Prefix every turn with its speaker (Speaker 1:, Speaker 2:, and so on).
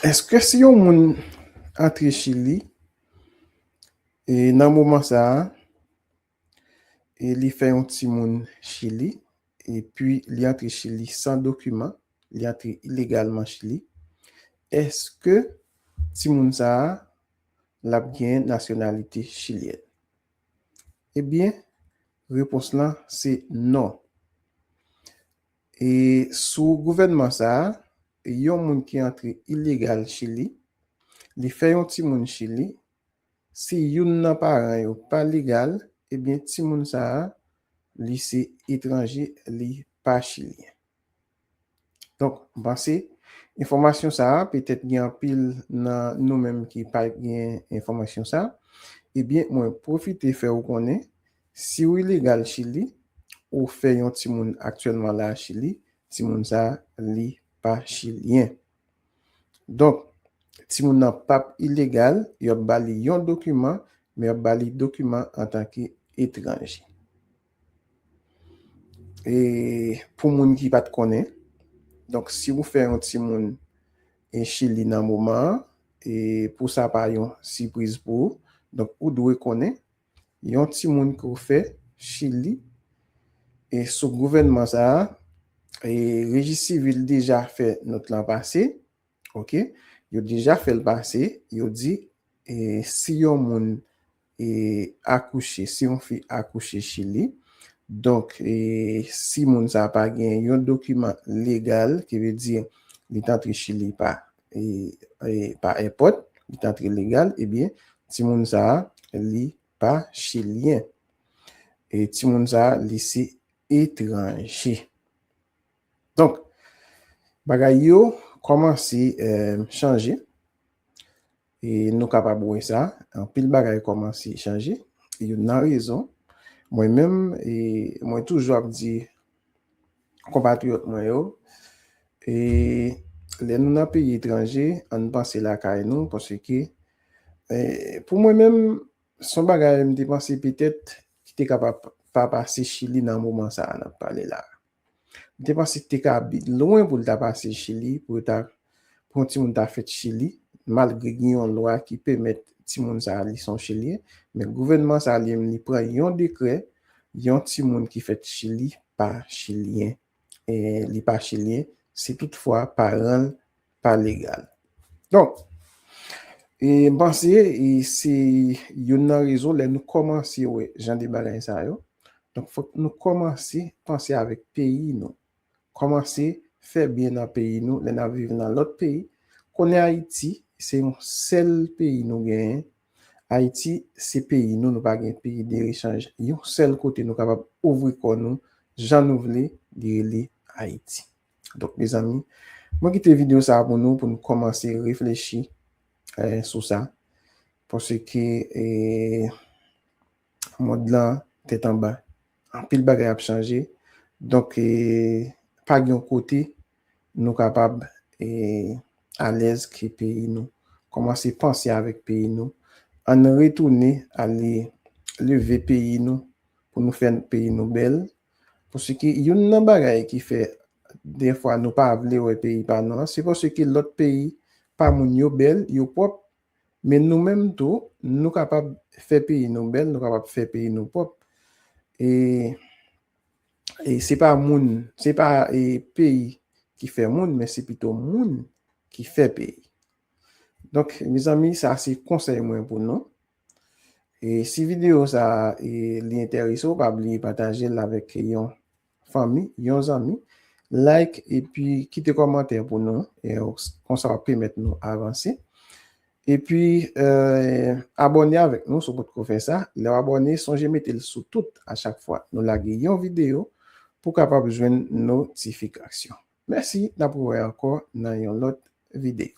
Speaker 1: Eske si yon moun antre chili e nan moman sa a e li fè yon ti moun chili e pi li antre chili san dokiman li antre ilegalman chili eske ti moun sa a lap gen nasyonalite chilièn e byen Repons lan se non. E sou gouvènman sa, yon moun ki antre ilegal Chili, li fè yon timoun Chili, si youn nan paran yo pa legal, ebyen timoun sa, li se etranje, li pa chilyen. Donk, m panse enfòmasyon sa a, petèt gen anpil nan nou menm ki pa gen enfòmasyon sa a, ebyen mwen pwofite fè ou konnen, si ou ilegal Chili, ou fè yon timoun aktyèlman la Chili, timoun sa a li pa chilyen. Donk, timoun nan p ap ilegal, yo ap ba li yon dokiman, men yo ap ba li dokiman antanke etranje. E pou moun ki pat konnen, donk si ou fè yon timoun e Chili nan moman an, e pou sa pa yon sipriz pou ou, donk ou dwe konnen, yon timoun ke ou fè Chili, e sou gouvènman sa a, e rejis sivil deja fè nòt lan pase, Ok, yo deja fèl pase, yo di si yon moun akouche, si yon fi akouche Chili, donk si moun sa pa gen yon dokiman legal, ki vle di li te antre Chili pa èpòt, li te antre legal, ebyen ti moun sa li pa chilyen. Ti moun sa li se etranje. Donk, bagay yo kòmanse chanje. E nou kapab wè sa, anpil bagay kòmanse chanje. Youn nan rezon, mwen menm, mwen toujou ap di konpatriyòt mwen yo, lè nou nan peyi etranje, ann panse lakay nou, paske pou mwen menm, s on bagay m te panse petèt ki te kapab pa pase Chili nan moman sa a n ap pale la a. M te panse te ka bit lwen pou l ta pase Chili, pou yo ta, pou yon timoun ta fèt Chili, malgre gen yon lwa ki pèmèt timoun sa a li son chilyen, men gouvènman sa a li menm li pran yon dekrè, yon timoun ki fèt Chili pa chilyen, li pa chilyen, si tout fwa paran l pa legal. Donk, e m panse e se youn nan rezon lè nou kòmanse wè jan de bagay sa yo, donk fòk nou kòmanse panse avèk peyi nou, kòmanse fè byen nan peyi nou lè n ap viv nan lòt peyi, konnen Ayiti se yon sèl peyi nou genyen, Ayiti se peyi nou, nou pa gen peyi derechanj, yon sèl kote nou kapab ouvri kò nou jan nou vle li rele Ayiti. Donk mezanmi, mwen kite video sa pou nou pou nou komanse reflechi eh, sou sa. Pwosè ke eh, mond lan tèt anba. Anpil bagay ap chanje. Donk eh, pa gen yon kote nou kapab eh, alèz ke peyi nou. Komanse panse avèk peyi nou. Ann retounen ale leve peyi nou pou nou fè peyi nou bèl, Paske youn nan bagay ki fè defwa nou pa vle wè peyi pa nou an, se paske lòt peyi pa moun yo bèl, yo pwòp, men nou menm tou nou kapab fè peyi nou bèl, nou kapab fè peyi nou pwòp. E e se pa moun, se pa e peyi ki fè moun, men se pito moun ki fè peyi. Donk mezanmi sa se konsèy mwen pou nou. E si video sa e li enterese w pa bliye pataje l avèk yon fanmi, yon zanmi, like epi kite kòmantè pou nou e konsa wap pemèt nou avanse. Epi abòne avèk nou si w potko fè sa, lè w abòne sonje mete l sou tout a chak fwa nou lage yon video pou kapab jwenn notifikasyon. Mèsi nap rewè ankò nan yon lòt video.